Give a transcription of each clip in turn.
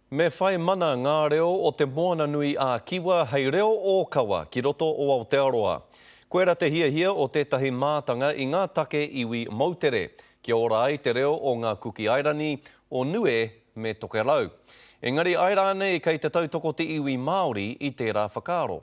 Me whai mana ngā reo o Te Moana-nui-ā-Kiwa hei reo ōkawa ki roto o Aotearoa. Koirā te hiahia o tētahi mātanga i ngā take iwi moutere, kia ora ai te reo o ngā Kuki Airani, o Nue me Tokerau. Engari ae rānei kei te tautoko te iwi Māori i tērā whakaaro?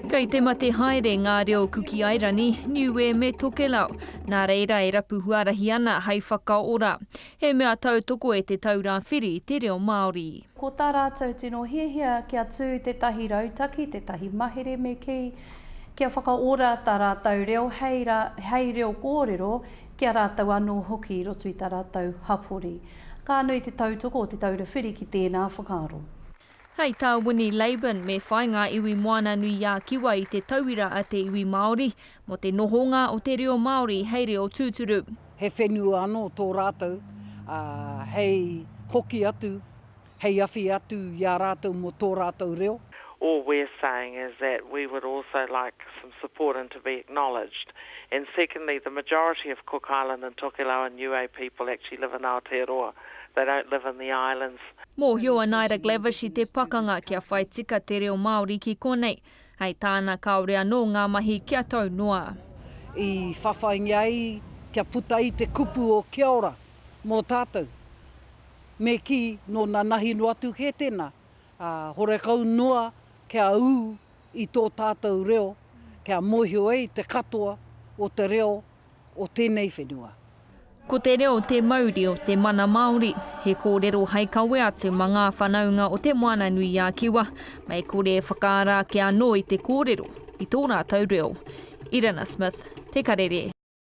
Kei te mate haere ngā reo Kuki Airani, Niue me Tokelau, nā reira e rapu huarahi ana hai whakaora. He mea tautoko e Te Taura Whiri te reo Māori. Ko tā rātou tino hiahia kia tū tētahi rautaki, tētahi mahere me kī, kia whakaora tā rātou reo hei ra, hei reo kōrero ki a rātou anō hoki i roto i tā rātou hapori. Ka nui te tautoko o Te Taura Whiri ki tēnā whakaaro. Hei tā Winnie Laban, me whai ngā iwi Moana-nui-ā-Kiwa i te tauira a te iwi Māori mō te nohonga o te reo Māori hei reo tūturu. He whenua anō tō rātou, ā, hei hoki atu, hei awhi atu i a rātou mō tō rātou reo. All we're saying is that we would also like some support and to be acknowledged. And secondly, the majority of Cook Island and Tokelau and Niue people actually live in Aotearoa, they don't live in the islands. Mōhio a Naira Glavish i te pakanga kia whai tika te reo Māori ki konei, hei tāna kāore anō ngā mahi kia tau noa. I whawhaingia ai kia puta i te kupu o Kia Ora mō tātou. Me kī, nō nanahi noa atu kē tēnā, ā, horekau noa kia ū i tō tātou reo, kia mōhio ai te katoa o te reo o tēnei whenua. Ko te reo te mauri o te mana Māori. He kōrero hai kawe atu mā ngā whanaunga o Te Moana-nui-a-Kiwa, mei kore e whakaara ake anō i te kōrero, i tō rātou reo. Irina Smith, Te Karere.